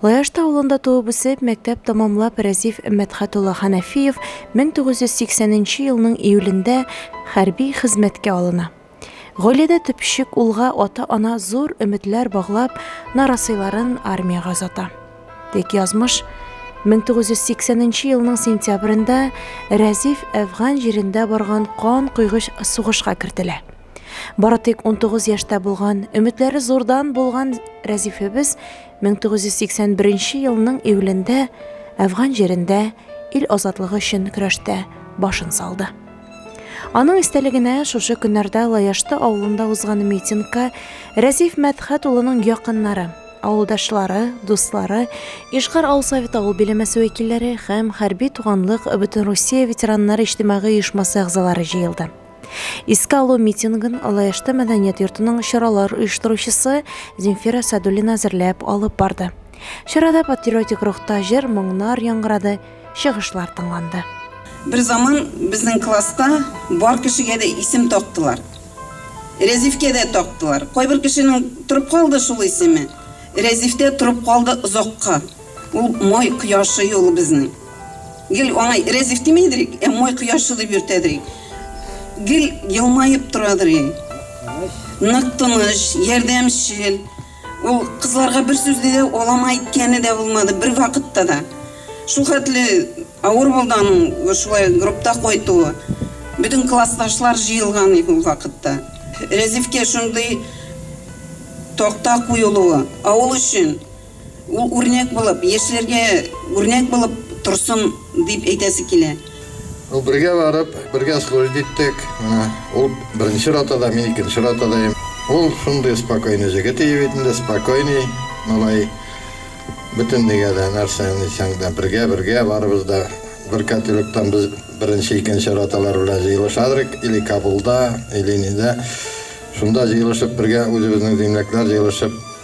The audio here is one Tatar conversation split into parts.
Лаяшта авылында туып-үсеп, мәктәп тәмамлап Рәзиф Мәдхәт улы Хәнәфиев 1980 нче елның июлендә хәрби хезмәткә алына. Гаиләдә төпчек улга ата-ана зур өметләр баглап, нарасыйларын армиягә озата. Тик язмыш 1980 нче елның сентябрендә Рәзиф әфган җирендә барган кан койгыч сугышка кертелә. Бары тик 19 яшьтә булган, өметләре зурдан булган Рәзифебез 1981 елның июлендә Әфган җирендә ил азатлыгы өчен көрәштә башын салды. Аның истәлегенә шушы көннәрдә Лаяшты авылында узган митингка Рәзиф Мәдхәт улының якыннары, авылдашлары, дуслары, Ишгар авыл советы авыл биләмәсе вәкилләре һәм хәрби туганлык Бөтенрусия ветераннары иҗтимагый оешмасы әгъзалары җыелды. Искә алу митингын Алаешты мәдәният йортының чаралар оештыручысы Земфира Садулина әзерләп алып барды. Чарада патриотик рухта җыр, моңнар яңгырады, чыгышлар тыңланды. Бер заман безнең класста бар кешегә дә исем тактылар. Рәзифкә дә тактылар. Кайбер кешенең торып калды шул исеме. Рәзиф тә торып калды озакка. Ул май кояшы юлы безнең. Гел аңа рәзиф димидер ик, ә май кояшы дип йөртәдер ик. Гел елмаеп торадыр ик. Нык тыныч, ярдәмчел. Ул кызларга бер сүз дә алама әйткәне дә булмады, бервакытта да. Шулхәтле авыр булды аның шулай группта кайтуы. Бөтен классташлар җыелган иде ул вакытта. Рәзифкә шундый такта куелуы, авыл өчен. Ул үрнәк булып, яшьләргә үрнәк булып торсын дип әйтәсе килә. Ну, бергә барып, бергә служить иттек. Менә ул беренче ротада, мин икенче ротада ем. Ул шундый спокойный җегет ие бит инде, спокойный малай. Бөтенлегә дә, нәрсә дисәң дә, бергә, бергә барыбыз да бер котелоктан без беренче, икенче роталар белән җыелышадырык, или Кабулда, или нидә. Шунда җыелышып бергә үзебезнең земляклар җыелышып,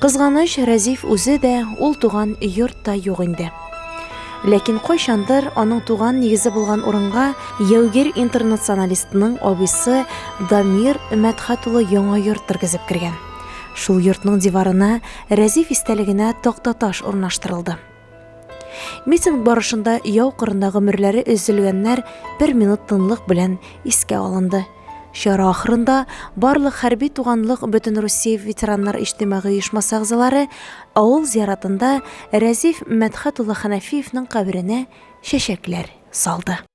Кызганыч, Рәзиф үзе дә, ул туган йорт та юк инде. Ләкин кайчандыр аның туган нигезе булган урынга яугир интернационалистның абыйсы Дамир Мәдхәт улы яңа йорт тергезеп кергән. Шул йортның диварына Рәзиф истәлегенә тактаташ урнаштырылды. Митинг барышында яу кырында гомерләре өзелгәннәр бер минут тынлык белән искә алынды. Чара ахырында барлык хәрби туганлык бөтен Россия ветераннар иҗтимагый оешмасы әгъзалары авыл зиратында Рәзиф Мәдхәт улы Хәнәфиевның каберенә чәчәкләр салды.